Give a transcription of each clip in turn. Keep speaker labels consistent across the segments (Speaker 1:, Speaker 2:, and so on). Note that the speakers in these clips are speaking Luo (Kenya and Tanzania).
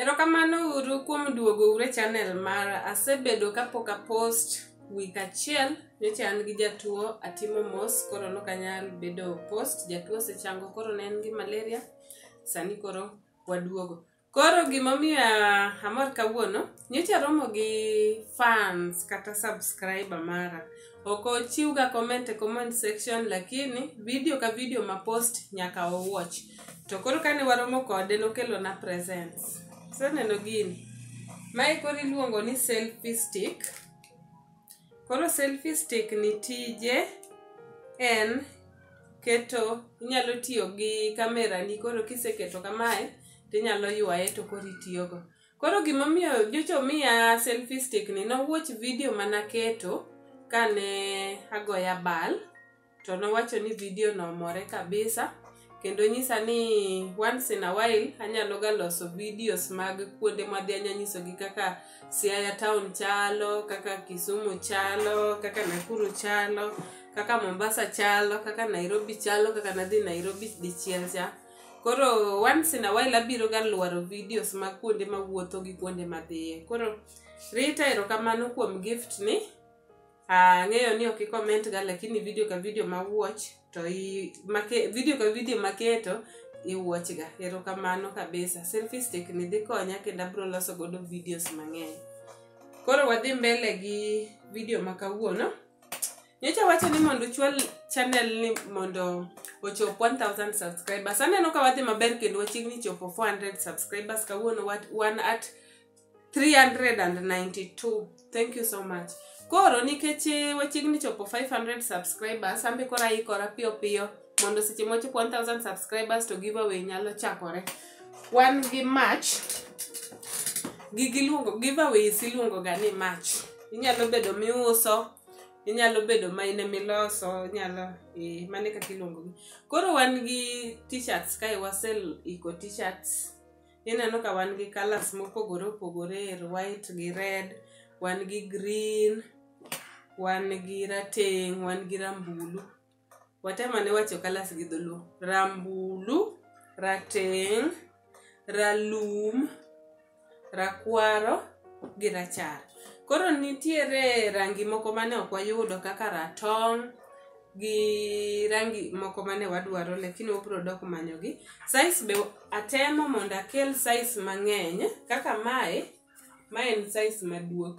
Speaker 1: Erokamano uru kuom duogo ure channel mara. Asebedo kapok a post week achiel nyocha an gi jatuo atimo mos koro nok anyal bedo post jatuo osechango koro ne en gi malaria sani koro waduogo koro gimomiyo ah, amor kawuono nyocha romo gi fans kata subscriber mara Ok ochiwga comment e comment section lakini video ka video ma post nyaka owatch. To koro kane waromo kode nokelona presents. Seneno gini. Mae koro iluongo ni selfie stick. Koro selfie stick ni tije en keto inyalo tiyo gi kamera ni koro kiseketo kamae tinyalo ywaye to koro itiyogo. Koro gimomiyo nyocha omiya selfie stick ni nowuoch video manaketo kane agoya bal to nowacho ni video no omore kabisa kendo nyisa ni once in a while anyalo ga loso videos mag kuonde madhi anya nyisogi kaka Siaya town chalo, kaka Kisumu chalo, kaka Nakuru chalo, kaka Mombasa chalo, kaka Nairobi chalo, kaka nadhi Nairobi dichiel cha. koro once in a while abiro ga lwaro videos ma kuonde ma wuotho gi kuonde ma dhiye koro rita erokamano kuom gift ni ang'eyo ni ok ikoment ga lakini video ka video ma watch to i, make, video ka video maketo iwatch ga erokamano kabisa selfie stick ni dhi konya kendo abiro loso godo videos mang'eny koro wadhi mbele gi video ma kawuono nyocha wacho ni mondo uchwal channel ni mondo ochop 1000 subscribers aneno ka wadhi maber kendo wachiegni chopo 400 subscribers kawuono wat- wan at 392 thank you so much koro nikech eh, wachiegni chopo 500 subscribers ambe koro aikora piyo piyo mondo seche mochopo 1000 subscribers to giveaway nyalo chakore wan gi march gigi iluongo giveaways iluongo ga ni march inyalo bedo miuso inyalo bedo ma in emiloso inyalo eh, mane kaka iluongogi koro wan gi t-shirts kae wasel iko t-shirts ineno ka wan gi colors mopogore opogore er white gi red wan gi green wan gi rateng wan gi rambulu watemane wacho kalas gi dholuo rambulu rateng ralum rakwaro gi rachar koro nitiere rangi moko mane ok wayudo kaka ratong gi rangi moko mane wadwaro lakini wabiro dok manyogi size be atemo mondo akel size mang'eny kaka mae ma en size maduong'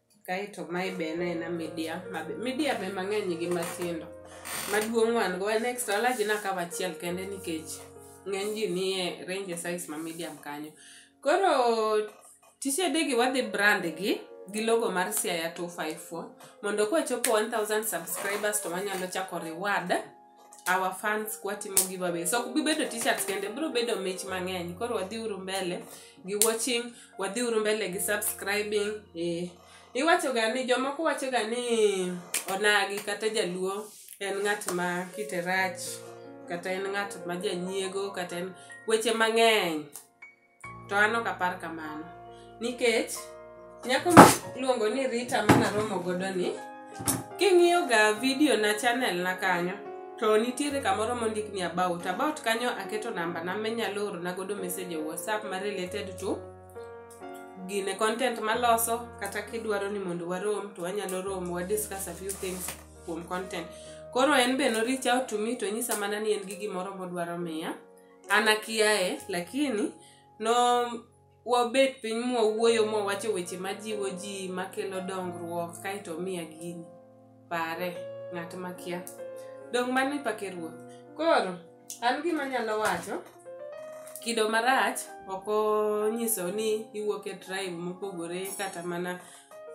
Speaker 1: kaeto mae be en aena media mabe media be mang'eny gi matindo maduong' wan go en extra large nakawo achiel kende nikech ng'eny ji nie range size ma medium kanyo koro tisedegi wadhi brand gi gi logo mar siaya 254 mondo kwachopo 1000 subscribers to wanyalo chako reward our fans kwatimo giveaway so ok bibedo t-shirts kende biro bedo mich mang'eny koro wadhiuru mbele gi watching wadhiuru mbele gi subscribing eh. iwachoga ni jomoko wachoga ni onagi kata jaluo en ng'at ma kite rach kata en ng'at ma janyiego kata en weche mang'eny to an ok apar kamano nikech nyako miluongo ni rita mana romo godo ni king'iyo ga video na channel na kanyo to nitiere kamoro mondik ni about about kanyo aketo namba na menyalo oro na godo message e whatsapp ma related to gine content maloso kata kidwaro ni mondo warom to wanyalo romo wa discuss a few things kuom content koro en be no reach out to me to nyisa mana ni en gi gimoro modwaro miya an akiaye lakini no wabet piny mwawuoyo mwawacho weche majiwo ji makelo dongruok kaeto miya gini pare ng'at makia dong mani pake ruoth koro an gima nyalo wacho kido marach ok onyiso ni iwuok e tribe mopogore kata mana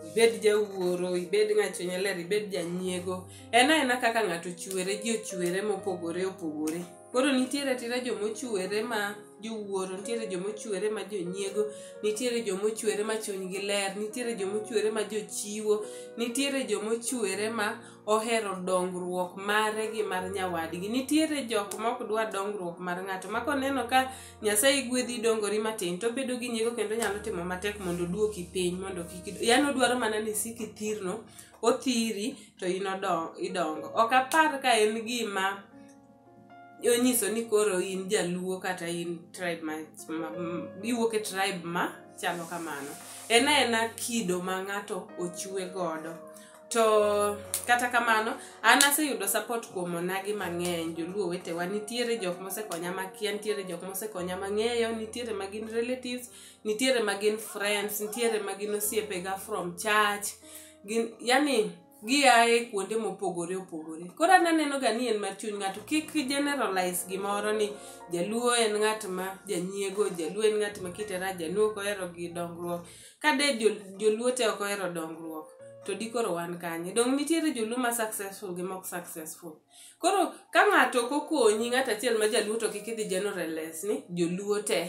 Speaker 1: ibed jawuoro ibed ng'achunya ler ibed janyiego en aena kaka ng'ato chwere ji ochwere mopogore opogore Koro nitiere atira jomochwere ma jowuoro, nitiere jomochwere ma jonyiego, nitiere jomochwere ma chunygi ler, nitiere jomochwere ma jochiwo, nitiere jomochwere ma ohero dongruok mare gi mar nyawadgi. Nitiere jok ma ok dwa dongruok mar ng'ato ma koneno ka Nyasaye gwedhi idongori matin to obedo gi nyiego kendo onyalo timo matek mondo oduoki piny mondo kik ido- yaani odwaro mana ni isik ithirno, othiri to in odo- idongo. Ok apar ka en gima onyiso ni koro in jaluo kata in tribe ma, ma, m- iwuok e tribe ma chalo kamano en aena kido ma ng'ato ochwe godo to kata kamano an aseyudo support kuom onagi mang'eny joluo wetewa nitiere jok mosekonya makia nitiere jok mosekonya mang'eyo nitiere ma gin relatives nitiere ma gin friends nitiere ma gin osiepega from church gin yani giaye kuonde mopogore opogore koro an anenoga ni en mar chuny ng'ato kik generalize gimoro ni jaluo en ng'at ma janyiego jaluo en ng'at ma kite rach jaluo ok ohero gi dongruok ka de jo- joluo te ok ohero dongruok to di koro wan kanye dong nitiere joluo ma successful gi mok successful koro ka ng'ato ok okonyi ng'ato achiel ma jaluo to kik idhi generalize ni joluo te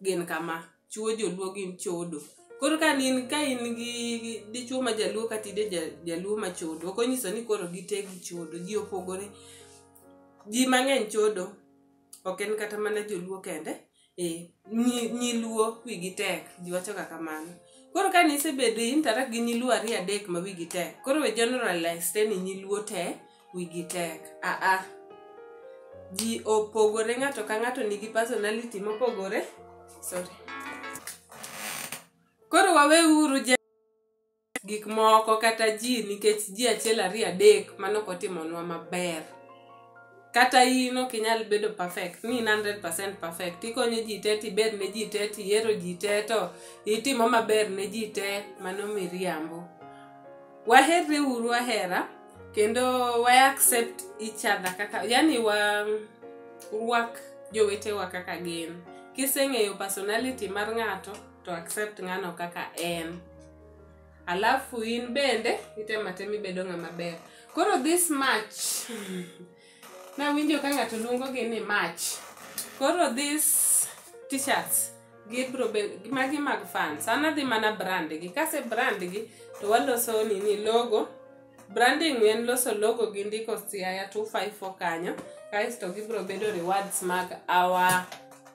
Speaker 1: gin kama chuo joluo gin chodo koro ka in ka in gi gi- dichuo ma jaluo kata ide ja- jaluo ma chodo ok onyiso ni koro gite gi chodo ji opogore ji mang'eny chodo ok en kata mana joluo kende eh, nyi- nyiluo wigi tek ji wachoga kamano koro ka nisebedo interact gi nyiluo ariyo adek ma wigi tek koro we generalize te ni nyiluo te wigi tek aa ji opogore ng'ato ka ng'ato nigi personality mopogore sorry koro waweuru je gik moko kata ji nikech ji achiel ariyo adek mano kotimonwa maber kata in ok inyal bedo perfect ni in 100% perfect ikonyo ji te tiber ne ji te tiyiero ji te to itimo maber ne ji te mano miriambo waherre uru ahera kendo wa accept each other kaka yani wa rwak jowetewa kaka gin kiseng'eyo personality mar ng'ato to accept ng'ano kaka en alafu in bende itematem ibedo ng'ama ber koro this match Nawinjo ka ng'ato luongogi ni mach. Koro this t-shirts gibro be magi mag fans. An adhi mana brand gi. Kase brand gi to waloso nini logo. Branding en loso logo gi ndiko siaya 254 kanyo. Kasto gibro bedo rewards mag our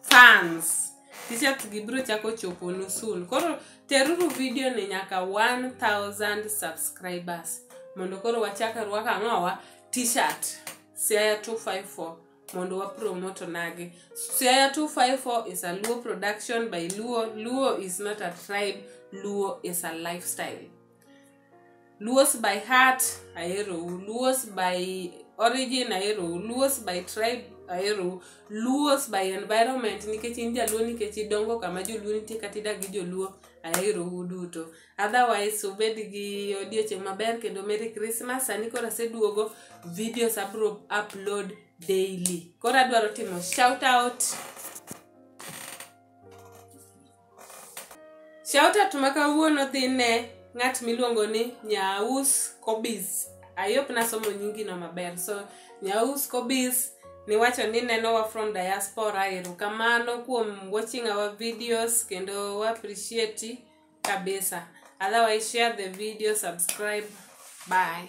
Speaker 1: fans. T-shirts gi biro chako chopo nu soon. Koro teruru video ni nyaka 1000 subscribers. Mondo koro wachak rwaka ng'owa t-shirt siaya 254 mondo wa promote onagi siaya 254 is a luo production by luo luo is not a tribe luo is a lifestyle luos by heart aerou luos by origin aerou luos by tribe aerou luos by environment nikech in jaluo nikech idongo kama joluo nitie kata idak gi joluo aerou duto otherwise ubed gi odiochieng' maber kendo merry christmas sani koro aseduogo videos abro upload daily koro adwaro timo shout out shout out ma kawuono dhi ne ng'at miluongo ni nyaus kobis ayop nasomo nyingino maber so nyaus kobis niwacho ni nenowa from diaspora erokamano kuom watching our videos kendo wa appreciate kabisa otherwise share the video subscribe bye